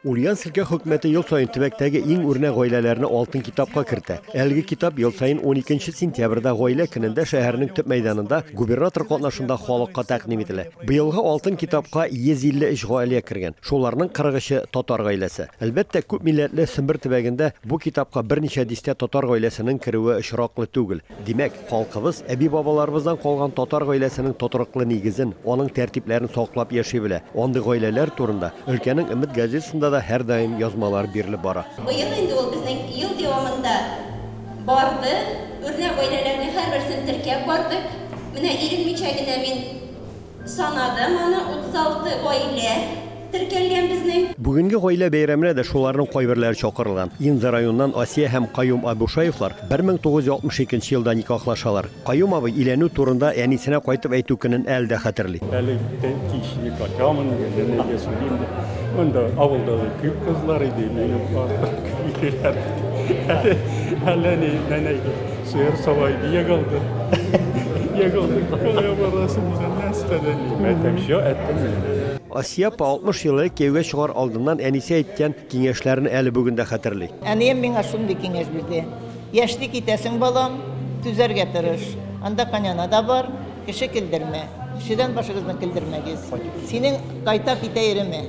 Ульяновск өлкә хөкүмәте ел саен төбәктәге иң үрнәк гаиләләрне алтын китапка кертә. Әлеге китап ел саен 12 сентябрьдә гаилә көнендә шәһәрнең төп мәйданында губернатор катнашында халыкка тәкъдим ителә. Быелгы алтын китапка 153 гаилә кергән. Шуларның 43-е татар гаиләсе. Әлбәттә, күп милләтле Сембер төбәгендә бу китапка берничә дистә татар гаиләсенең керүе очраклы түгел. Димәк, халкыбыз әби-бабаларыбыздан калган татар гаиләсенең тотрыклы нигезен, аның тәртипләрен саклап яши белә. Андый гаиләләр турында өлкәнең Өмет газетасында да һәрдаим язмалар бирелеп бара. Быел инде ул безнең ел дәвамында барды, үрнәк гаиләләрнең һәрберсен теркәп бардык. Менә иренмичә генә мин Санадым аны, 36 гаилә теркәлгән безнең. Бүгенге гаилә бәйрәменә дә шуларның кайберләре чакырылган. Инза районыннан Асия һәм Каюм Абушаевлар 1962 елда никахлашалар. Каюм абый өйләнү турында әнисенә кайтып әйтү көнен әле дә хәтерли. Әле кич никачамын, әнигә сөйлим дип, монда авылда да күп кызлар иде, минем карт күп йөриләр иде. Әле, әле ни, нәнәй ди. Сыер сабай ияк алды. Ияк алды. Кая барасың үзен нәрсәдә? Мәтәм чо әттеме? Асия апа 60 елы кияүгә чыгар алдыннан әнисе әйткән киңәшләрен әле бүген дә хәтерли. Әнием миңа шундый киңәш бирде, Яшьли китәсең, балам, түзәргә тырыш. Анда Коняна да бар, кеше килдермә. Кешедән башыгызны килдермәгез. Синең кайта китә иреме?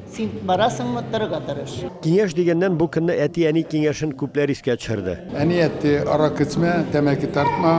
Син барасыңмы, торырга тырыш. Киңәш дигәннән, бу көнне әти-әни киңәшен күпләр искә төшерде. Әни әйтте, аракы эчмә, тәмәке тартма,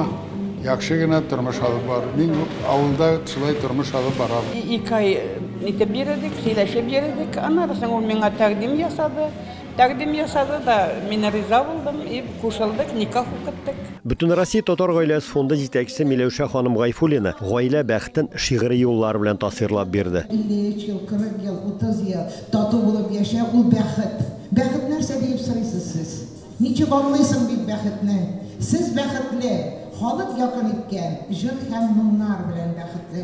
яхшы гына тормыш алып бар. Мин авылда шулай тормыш алып барам. Ике ай итеп йөредек, сөйләшеп йөредек. Аннары соң ул миңа тәкъдим ясады. Тәкъдим ясады да, мин риза булдым и кушылдык, никах укыттык. Бөтенроссия татар гаиләсе фонды җитәкчесе Миләүшә ханым Гайфуллина гаилә бәхетен шигъри юллар белән тасвирлап бирде. 53 ел, 40 ел, 30 ел тату булып яшәү, ул бәхет. Бәхет нәрсә диеп сорыйсыз сез? Ничек аңлыйсың бит бәхетне? Сез бәхетле, халык якын иткән җыр һәм моңнар белән бәхетле.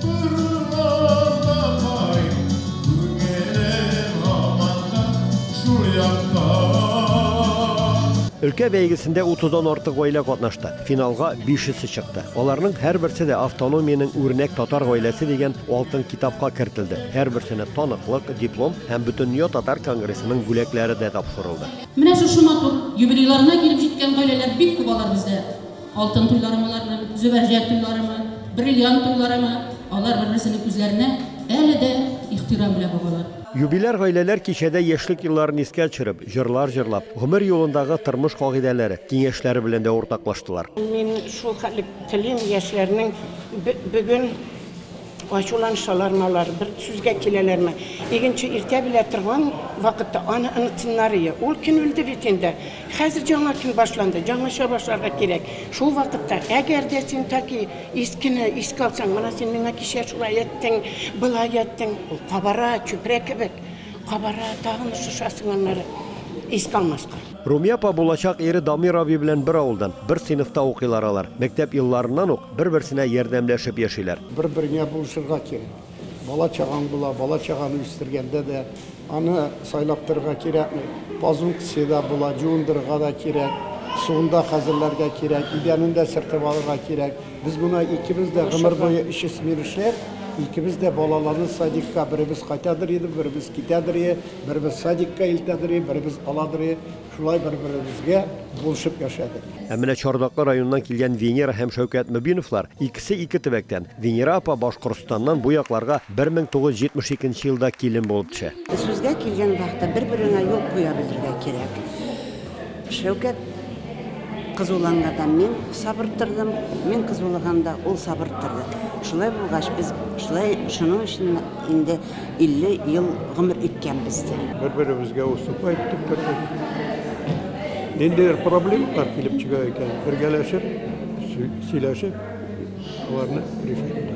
Торырлар да кайт, күңелем һаман да шул якта. Өлкә бәйгесендә утыздан артык гаилә катнашты. Финалга бишесе чыкты. Аларның һәрберсе дә автономиянең үрнәк татар гаиләсе дигән алтын китапка кертелде. Һәрберсенә таныклык, диплом һәм Бөтендөнья татар конгрессының бүләкләре дә тапшырылды. Менә шушы матур юбилейларына килеп җиткән гаиләләр бик күп алар бездә. Алтын туйларымы алар бер, Зөбәрҗәт туйларымы, Бриллиант туйларымы, алар бер-берсенең күзләренә әле дә ихтирам белән багалар. Юбиляр гаиләләр кичәдә яшьлек елларын искә төшереп, җырлар җырлап, гомер юлындагы тормыш кагыйдәләре, киңәшләре белән дә уртаклаштылар. Мин шул хәтле телим, яшьләрнең бүген. Ачуланышалармы алар, бер сүзгә киләләрме? Игенче иртә белә торган вакытта аны онытсыннарые. Ул көн үлде бит инде. Хәзер яңа көн башланды, яңача башларга кирәк. Шул вакытта, әгәр дә син таки искене искә алсаң, менә син миңа кичә шулай әйттең, болай әйттең, ул кабара, чүпрә кебек кабара, тагын шушасың аннары искә алмаска. Румия апа булачак ире Дамир абый белән бер авылдан, бер сыйныфта укыйлар алар. Мәктәп елларыннан ук бер-берсенә ярдәмләшеп яшиләр. Бер-береңә булышырга кирәк. Бала-чагаң була, бала-чаганы үстергәндә дә аны сайлап торырга кирәкми. Пазункция дә була, җуындырырга да кирәк, суын да хәзерләргә кирәк, идәнен дә сөртеп алырга кирәк. Без моны икебез дә гомер буе өч смена эшләп, икебез дә балаларны садикка беребез кайтадыр идем, беребез китәдер идем. Беребез садикка илтә дери, беребез ала дери, шулай бер-беребезгә булышып яшәдек. Ә менә Чардаклы районыннан килгән Венера һәм Шәүкәт Мөбиновлар, икесе ике төбәктән. Венера апа Башкортстаннан бу якларга 1972 нче елда килен булып төшә. Сүзгә килгән вакытта бер-береңә юл куя белергә кирәк. Шәүкәт кызулангадан мин сабыр тордым, мин кызулыганда ул сабыр торды. Шулай булгач, без шулай шуның өчен инде 50 ел гомер иткәнбез ди. Бер-беребезгә уступать итеп тордык. Ниндидер проблемалар килеп чыга икән, бергәләшеп, сөйләшеп, аларны решать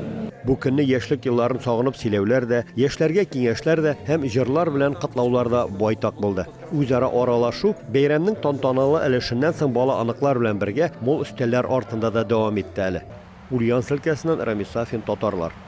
Бу көнне яшьлек елларын сагынып сөйләүләр дә, яшьләргә киңәшләр дә һәм җырлар белән котлаулар да байтак булды. Үзара аралашу бәйрәмнең тантаналы өлешеннән соң бала аныклар белән бергә мул өстәлләр артында да дәвам итте әле. Ульян өлкәсеннән Рамис Сафин, Татарлар.